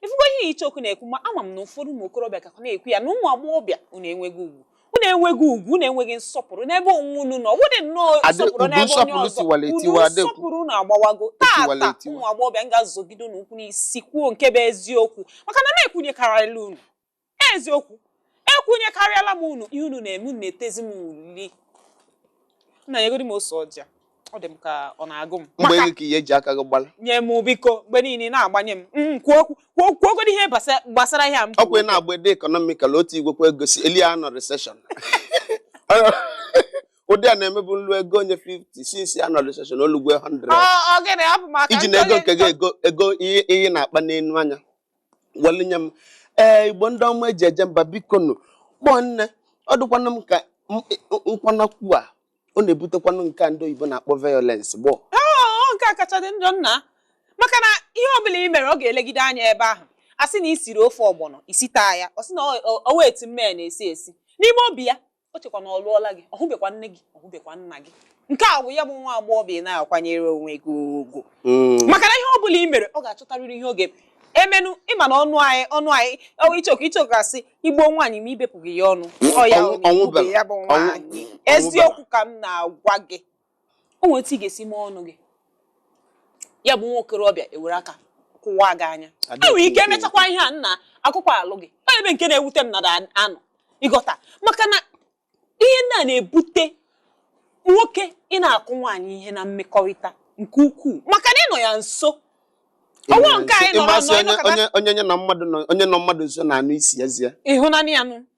ifugo ihe icheoku na-ekwu ma ama m na ụfọdụ ụmụ okorobịa ka na-ekwu ya na ụmụ agbọghọbịa unu enweghị ugwu unu enweghị ugwu unu enweghị nsọpụrụ n'ebe onwe unu nọ wụdị nnọọ Adị- nsọpụrụ udu n'ebe onye nsọpụrụ ọzọ tiwara unu etiwa, adịkwu. nsọpụrụ unu agbawago Etiwara taata etiwa. ụmụ agbọghọbịa m ga-azọgide unu ụkwụ n'isi kwuo nke bụ eziokwu maka na m ekwunyekarịala unu Eziokwu, ekwunyekarịala m unu ihe unu na-eme unu na-etezi m uli. Nna nyegodi m ose ọjị a. Ọ dị m ka ọ na-agụ m. mgbe Maka- ego ka ihe i ji aka gị gbala nye m biko mgbe niile ị na-agbanye m Mm, kwuo okwu kwuo kwuo okwu ihe gbasa- gbasara ihe a m ọ kwa ị na-agba ede economical otu igwekwa ego si eli a nọ recession ụdị a na-emebu nlu ego onye 50 since a nọ recession o lugo 100 Ọ- ọ gịnị abụ m aka iji na ego nke gị ego ego ihe ihe na-akpa n'enu anya welu nye m ee igbo ndị ọma e ji eje mba biko nụ gbọ nne ọ dịkwanụ m ka m- nkwanakwu a ọ na-ebutekwanụ nke a ndị oyibo na-akpọ violence gbọ ọ nke a kacha dị njọ nna maka na ihe ọbụla i mere ọ ga-elegide anya ebe ahụ a sị na i siri ofe ọgbọnọ i sita ya ọ sị na ọ- ọ- o nwe etu nne m na-esi esi n'ime obi ya o chekwa na ọ lụọla gị ọ hụbekwa nne gị ọ hụbekwa nna gị nke a bụ ya bụ nwa agbọghọ ị na-akwanyere onwe gị ugwu hmm. maka na ihe ọ bụla i mere ọ ga-achọtarịrị ihe ọ ga-emenụ ị ma na ọnụ anyị ọnụ anyị ichoku ichoku a sị i gbuo nwaanyị ma i bepụghị ya ọnụ ọ ya bụ nwaanyị eziokwu ka m na-agwa gị o nwere otu ị ga-esi mee ọnụ gị ya bụ nwa okorobịa ewere aka kụwaa gị anya e nwere ike emechakwa ihe a nna akụkọ alụ gị onye ebe nke na-ewute m nada anụ ịghọta maka na ihe ndị a na-ebute nwoke ịna-akụ nwaanyị ihe na mmekọrịta nke ukwuu maka na ị nọ ya nso ọnwa nke anyị nọrọ nọ onye nọ mmadụ nso na-anụ isi eze ya ịhụnanya nụ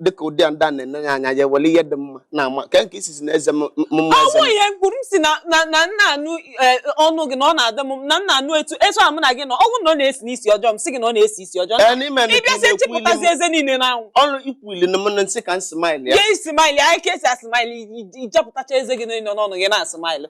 dịka ụdị a ndị a na-enye ya anya ya were ihe dị mma na-ama ka nke isizi na eze m m- mma ọ eze bụ m ihe m kwuru m sị na na na m na-anụ eh, ọnụ gị na ọ na-adị m na m na-anụ etu etu a mụ na gị nọ ọ bụrụ na ọ na-esi m isi ọjọọ m sị gị na ọ na-esi isi ọjọọ Ee, n'ime na ị bịa sị ikwu ilu m- chịpụtazi eze niile n'anwụ ọnụ ikwuli na mụ na nsị ka m smile ya ya ị smile anyị ka e si a-smile i jepụtacha eze gị niile n'ọnụ gị na-a-smile